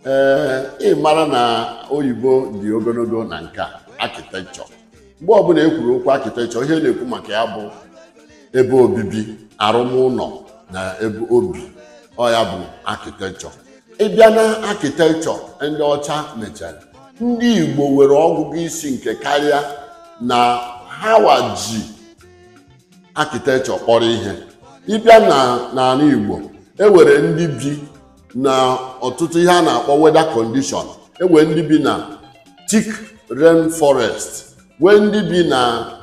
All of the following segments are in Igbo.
ee ị mara na oyibo dị ogologo na nka architecture mgbe ọbụla e kwuru okwu architecture ihe na-ekwu maka ya bụ ebe obibi arụm ụlọ na ebe obi ọ ya bụ architecture ịbịa na architecture ndị ọcha mechara ndị igbo nwere ọgụgụ isi nke karịa na ha wa ji architecture kpọrọ ihe ịbịa n'ala igbo enwere ndị bi na ọtụtụ ihe a na-akpọ weather condition enwere ndị bi na thick rain forest nwee ndị bi na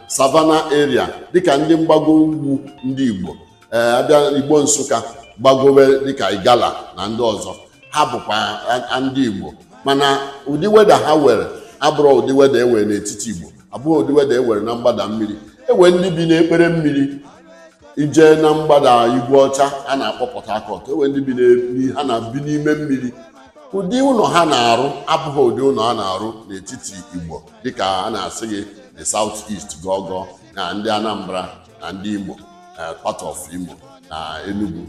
savannah area dịka ndị mgbago ugwu ndị igbo ee abịa igbo nsụka gbagowe dịka igala na ndị ọzọ ha bụkwa a- a- ndị igbo mana ụdị weather ha were abụrọ ụdị weather e were n'etiti igbo abụghị ụdị weather e were na mgbada mmiri e were ndị bi n'ikpere mmiri i je na mgbada igwe ọcha a na-akpọ port harcourt e were ndị bi n'e- ha na-bi n'ime mmiri ụdị ụlọ ha na-arụ abụghị ụdị ụlọ a na-arụ n'etiti igbo dịka a na-asị gị the south east gọgọ na ndị anambra na ndị Imo eh, part of Imo na Enugu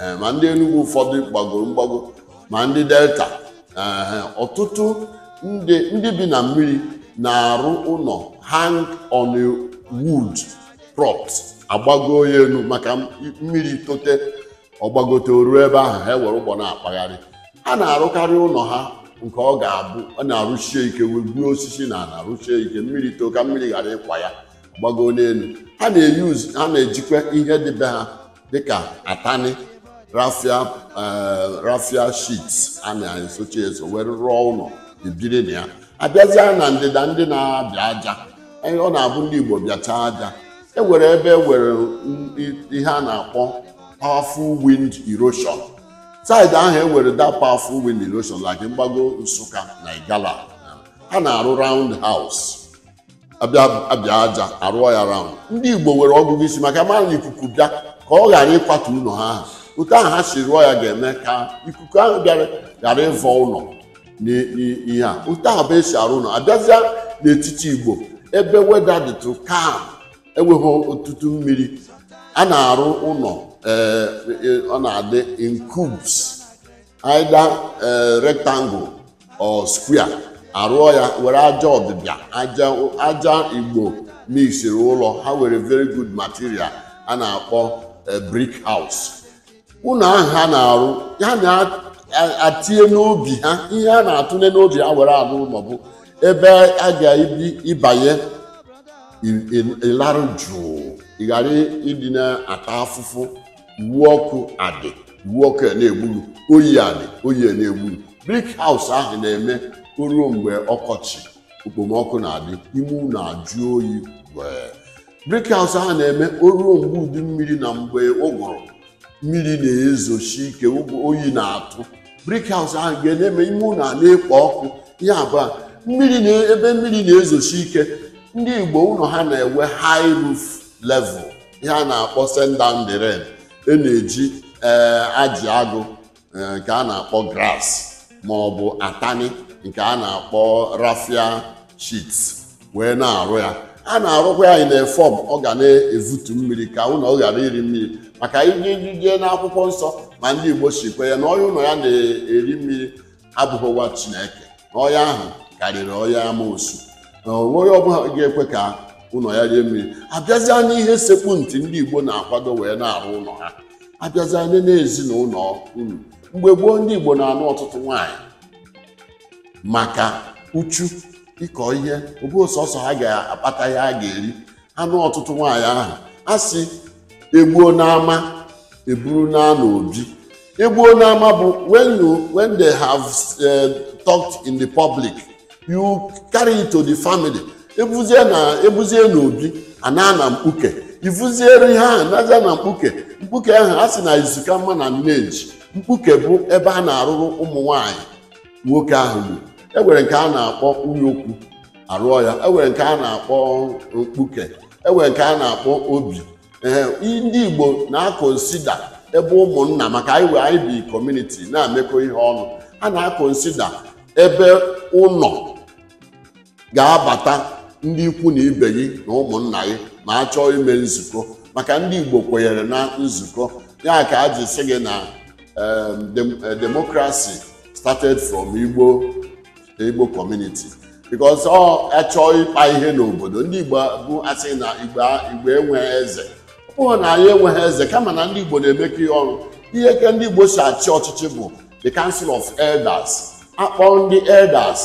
eh, ma ndị Enugu ụfọdụ gbagoro mgbago ma ndị Delta eh, ọtụtụ ndị ndị bi na mmiri na-arụ ụlọ hang on a wood props agbago ya elu maka m- mmiri tote ọ gbagote o ru ebe ahụ ha ewere ụgbọ na-akpagharị ha na-arụkarị ụlọ ha nke ọ ga-abụ a na-arụsie ike wee gbuo osisi na ala rụsie ike mmiri too ka mmiri ghara ịkwa ya gbago n'elu ha na-use ha na-ejikwa ihe dị be ha dịka atani raffia eh, raffia sheets a na-esochi eso were rụọ ụlọ e biri na ya abịazịa na ndịda ndị na-abịa aja eh, ọ na-abụ ndị Igbo bịacha aja e were ebe e were mm, i- ihe a na-akpọ powerful wind erosion side ahụ e were that powerful wind erosion like mgbago Nsụka na Igala ha na-arụ round house abịa abịa aja arụọ ya round ndị igbo nwere ọgụgụ isi maka mara na ikuku bịa ka ọ ghara ịkwatu ụlọ ha ahụ otu ahụ ha si rụọ ya ga-eme ka ikuku ahụ bịara ghara ịvọ ụlọ n'i- n'i- ihe a otu ahụ bụ e si arụ ụlọ abịazịa n'etiti igbo ebe weather dịtụ calm enweghị ọtụtụ mmiri a na-arụ ụlọ ee, e- ọ na-adị in cubes either eh, rectangle or square arụọ ya were aja ọdịbịa aja aja igbo mixiri ụlọ ha were very good material a na-akpọ eh, brick house ụlọ ahụ ha na-arụ ya na-atinye n'obi ha ihe a na-atụnye n'obi ha were arụ ụlọ bụ ebe a ga-ebi ịbanye ị- ị- ịlarụ jụụ ị ghara ịdị na-ata afụfụ iwu ọkụ adị iwu ọkụ ya na-egburu oyi adị oyi ya na-egburu brik haus ahụ na-eme o ruo mgbe ọkọchị okpomọkụ na-adị ime ụlọ ajụ oyi wee brick house ahụ na-eme o ruo mgbe udu mmiri na mgbe ụgụrụ mmiri na-ezosi ike ụgụ oyi na-atụ brick house ahụ ga na-eme ime ụlọ a na-ekpo ọkụ ihe abụọ mmiri na ebe mmiri na-ezosi ike ndị igbo ụlọ ha na-enwe high roof level ihe a na-akpọ send down the rain e na-eji ee ajị agụ ee, nke a na-akpọ grass ma ọ bụ atani nke a na-akpọ raffia sheet wee na-arụ ya a na-arụkwa ya in a form ọ ga na-evutu mmiri ka ụlọ ọ ghara iri mmiri maka i jee n'akwụkwọ nsọ ma ndị Igbo sịkwa ya na onye ụlọ ya na-eri mmiri abụghị nwa chineke na ọya ahụ karịrị ọya amoosu na o nwe onye ọbụla ga-ekwe ka ụlọ ya rie mmiri abịazịa n'ihe sekpu ntị ndị igbo na-akwado wee na-arụ ụlọ ha abịazịa nene ezinụlọ unu mgbe gboo ndị igbo na-anụ ọtụtụ nwaanyị maka uchu ịkọ ihe ọ bụghị sọsọ ha ga-akpata ihe a ga-eri a nụọ ọtụtụ nwaanyị ahụ a sị egbuo n'ama eburu naa n'obi egbuo n'ama bụ when you when they have uh, talked in the public you carry it to the family ebuzie na ebuzie n'obi a naa na mkpuke ivuziere ihe ahụ nazịa na mkpuke mkpuke ahụ a sị na izu ka mma na nne ji mkpuke bụ ebe a na-arụrụ ụmụ nwaanyị nwoke ahụ bụ e nwere nke a na-akpọ nwunye okwu arụọ ya enwere nke a na-akpọ mkpuke enwere nke a na-akpọ obi ee ndị Igbo na-akonsida ebe ụmụnna maka anyị wee anyị bi community na-emekọ ihe ọnụ a na-akonsida ebe ụlọ ga-abata ndị ikwu na ibe gị na ụmụnna gị ma a chọọ ime nzukọ maka ndị Igbo kwenyere na nzukọ ya ka a ji sị gị na em, dem- eh, democracy started from Igbo Igbo community because ọ achọọ ịkpa ihe n'obodo ndị Igbo bụ asị na Igbo Igbo enweghị eze ọ bụghị na anyị enweghị eze kama na ndị Igbo na-emekọ ihe ọnụ ihe ka ndị Igbo si achị ọchịchị bụ the council of elders akpọ ndị elders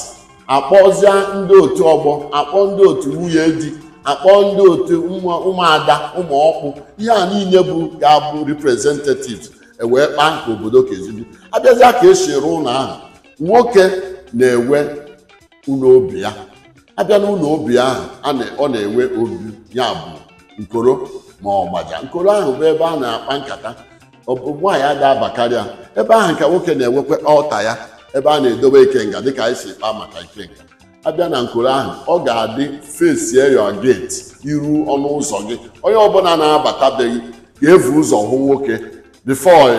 akpọzie ndị otu ọgbọ akpọ ndị otu nwunye di akpọ ndị otu ụmụada ụmụ ọkpụ ihe a niile bụ ga-abụ representatives ewee kpaa nke obodo ka esi bi abịazịa ka esi rụ ụlọ ahụ nwoke na-enwe ụlọ obi ya abịa n'ụlọ obi ahụ a na- ọ na-enwe obi ya bụ nkoro ma ọgbaja nkoro ahụ bụ ebe a na-akpa nkata ọ bụ nwaanyị ada abakarị ya ebe ahụ ka nwoke na-enwekwa ọta ya ebe a na-edobe ikenga dịka anyị si kpaa maka ikenga abịa na nkoro ahụ ọ ga-adị face your gate iru ọnụ ụzọ gị onye ọbụla na-abatabeghị ga-evu ụzọ hụ nwoke before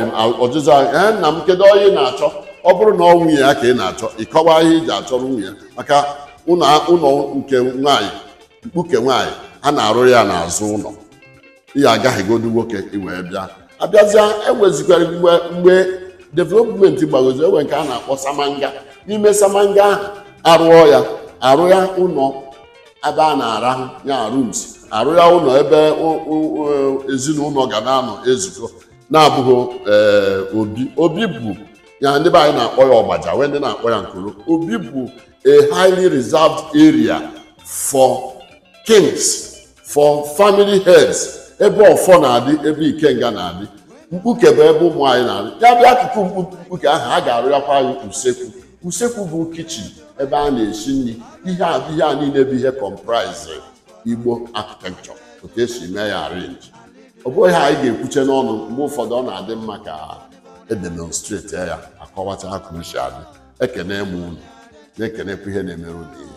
ọjụjụ ahụ ee nna m kedu onye ị na-achọ ọ bụrụ na ọ nwunye ya ka ị na-achọ ị kọwaa ihe i ji achọrọ nwunye ya maka ụlọ ụlọ nke nwaanyị mkpuke nwaanyị a na-arụ ya n'azụ ụlọ ị ya-agahegodu nwoke i wee bịa abịazịa enwezikwara mgbe mgbe development gbagozi enwe nke a na-akpọ samanga n'ime samanga ahụ arụọ ya arụ ya ụlọ ebe a na-arahụ ya rooms arụ ya ụlọ ebe o- o- o- ezinụlọ ga na-anọ ezukọ na-abụghị ee, obi obi bụ ya ndị be anyị na-akpọ ya ọgbaja nwee ndị na-akpọ ya nkoro obi bụ a highly reserved area for kings for family heads ebe ọfọ na-adị ebe ikenga na-adị mkpuke bụ ebe ụmụ nwaanyị na-adị ya bịa akụkụ mkpu- mkpuke ahụ a ga-arụyakwa nwaanyị usekwu usekwu bụ kitchen ebe a na-esi nri ihe a ihe a niile bụ ihe comprise igbo architecture otu e si mee ya arrange ọ bụghị ihe anyị ga-ekwuche n'ọnụ mgbe ụfọdụ ọ na-adị mma ka edemonstrate ya akọwacha ha ka o si adị ekene m unu na-ekenekwa ihe na-emere unu ihe